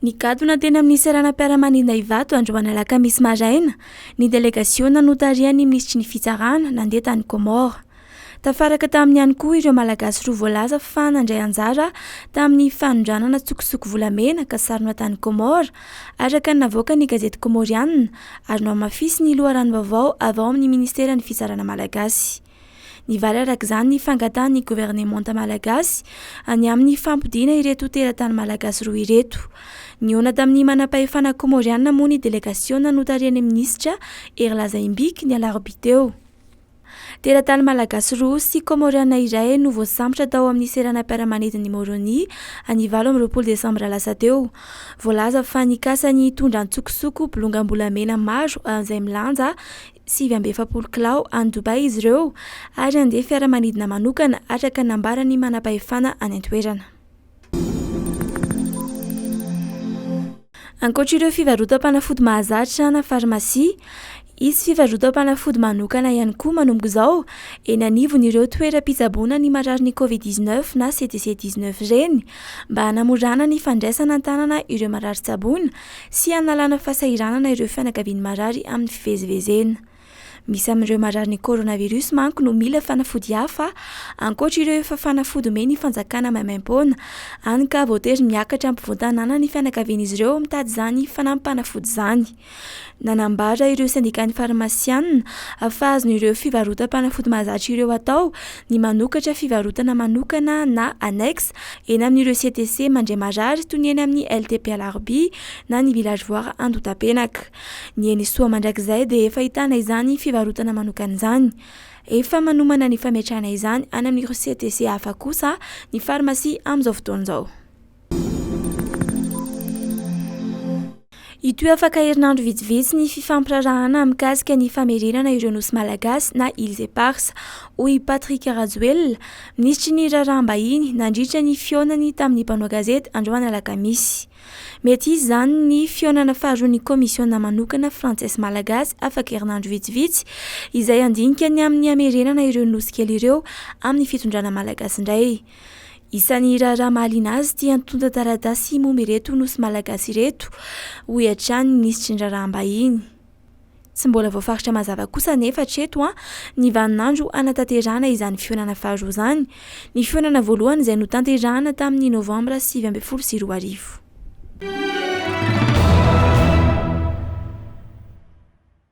Nigadona teny amin'ny seranam-piaramanidina Ivato androany alakamisy maraina ny delegasiona notarihan'ny minisitry ny Fitsarana nandeha tany Comores. Tafaraka taminy ihany koa ireo Malagasy roa voalaza fa nandray anjara tamin'ny fanondranana tsokosoko volamena kasarona tany Comores, araka ny navoaka ny gazety komorianina ary nohamafisin'ny loharanom-baovao avy ao amin'ny minisiteran'ny Fitsarana malagasy. Nivaly araka izany ny fangatahan'ny governemanta malagasy any amin'ny fampodiana ireto teratany malagasy roa ireto. Nihaona tamin'ny manampahefana kômôriana moa ny delegasiona notarihan'ny minisitra Hery Lazaimbiko ny alarobia teo. Teratany malagasy roa sy kômôriana iray no voasambotra tao amin'ny seranam-piaramanidin'i Moroni any valo amby roapolo desambra lasa teo. Voalaza fa nikasa ny hitondra antsokosoko bolongam-bolamena maro an'izay milanja sivy amby efapolo kilao any Dubaï izy ireo ary handeha fiaramanidina manokana araka ny nambaran'ny manampahefana any an-toerana. Ankoatra ireo fivarotam-panafody mahazatra na farmasia, hisy fivarotam-panafody manokana ihany koa manomboka izao eny anivon'ireo toeram-pitsaboana ny mararin'ny Covid 19 na CDC 19 ireny mba hanamorana ny fandraisana an-tanana ireo marary tsaboina sy hanalana fahasahiranana ireo fianakavian'ny marary amin'ny fivezivezena. Misy amin'ireo marary ny coronavirus manko no mila fanafody hafa ankoatra ireo efa fanafody omen'ny fanjakana maimaim-poana, hany ka voatery miakatra ampovoan-tanàna ny fianakavian'izy ireo mitady izany fanampim-panafody izany. Nanambara ireo sendikàn'ny farmasianina fa azon'ireo fivarotam-panafody mahazatra ireo atao ny manokatra fivarotana manokana na annexe eny amin'ireo CTC mandray marary toy ny eny amin'ny LTP Alarobia na ny Village Voir Andotapenaka. Ny eny Soa mandrakizay dia efa ahitana izany fivarotana manokana izany. Efa manomana ny fametrahana izany any amin'ireo CTC hafa kosa ny farmasia amin'izao fotoana izao. Hitohy afaka herinandro vitsivitsy ny fifampiraharahana mikasika ny famerenana ireo nosy malagasy na îles éparses, hoy i Patrick Rajoelina, minisitry ny Raharaham-bahiny, nandritra ny fihaonany tamin'ny mpanao gazety androany alakamisy. Mety hisy izany ny fihaonana faharoan'ny kaomisiona manokana frantsesy-malagasy afaka herinandro vitsivitsy, izay handinika ny amin'ny hamerenana ireo nosy kely ireo amin'ny fitondrana malagasy indray. Isan'ny raharaha mahaliana azy ity antontan-taratasy momba ireto nosy malagasy ireto, hoy hatrany ny minisitry ny raharaham-bahiny. Tsy mbola voafaritra mazava kosa anefa hatreto ny vaninandro hanatanterahana izany fihaonana faharoa izany. Ny fihaonana voalohany izay notanterahana tamin'ny Novambra sivy ambin'ny folo sy roa arivo.